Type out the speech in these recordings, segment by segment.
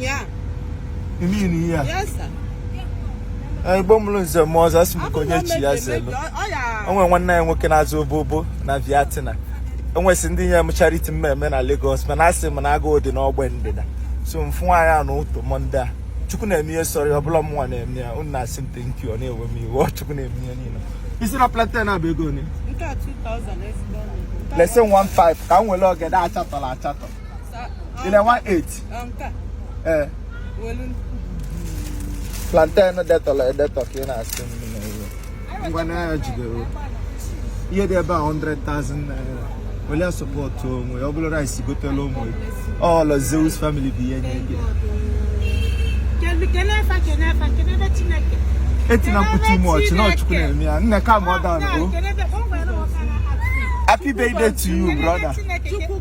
Yeah. You mean here? Yes, sir. Eh, Igbo mụrụ nze mụọ ọzọ asị m ka onye chie ya zelu. O nwere nwanne anyị nwoke na-aza Obobo na Vietnam. O nwesị ndị nye m charity mmemme na Lagos mana asị m na agụụ dị n'ogbe ndịda. So m fụ nwaanyị a n'ụtụtụ Mọnde a. Chukwu na-eme ihe sọrọ ya ọ bụrọ mụnwa na-eme ya. Unu na-asị m thank you ọ na-ewe m iwe. Ọ Chukwu na-eme ihe niile. Ị sị na plantain a bụ ego one? Nke a 2000 ezigbo ọnụ. Lesi 15 ka m were ogede achatọrọ achatọ. ị na-ele 18 ee plantain detọrọ edetọ ka ị na-asị ngwa na ya jidere ihe dị ebe a 100,000 naira wele support onwe ọ bụrụ rice gotelu ụmụ ọ Lord Zeus family bụ ihe nye gị etina mkpu chịma ọchị na ọ Chukwu na-eme ya nne ka ma ọ daa happy birthday to you brother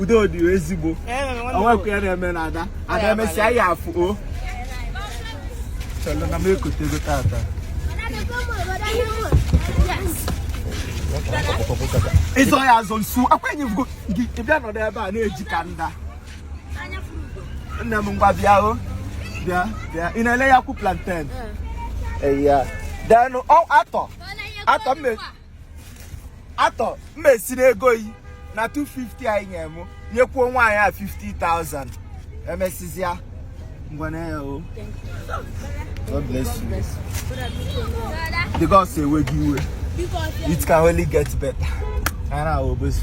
udo dị ezigbo onwekwa ya na-eme na ada ada emesịa ya afụ o chọrọ na m egotego tata ịzọ ya azọ nsu akwenye vugo gị bịa nọdụ ebe a na-eji ka nda nne m ngwa bịa o bịa bịa ị na-ele ya kwụ plantain eya denụ atọ atọ mme atọ m esiri ego yi na 250 anyị nyere m nyekwuo nwaanyị a 50,000 emesizia ngwana ya o God bless you the gods eweghị iwe it can only get better ara obosi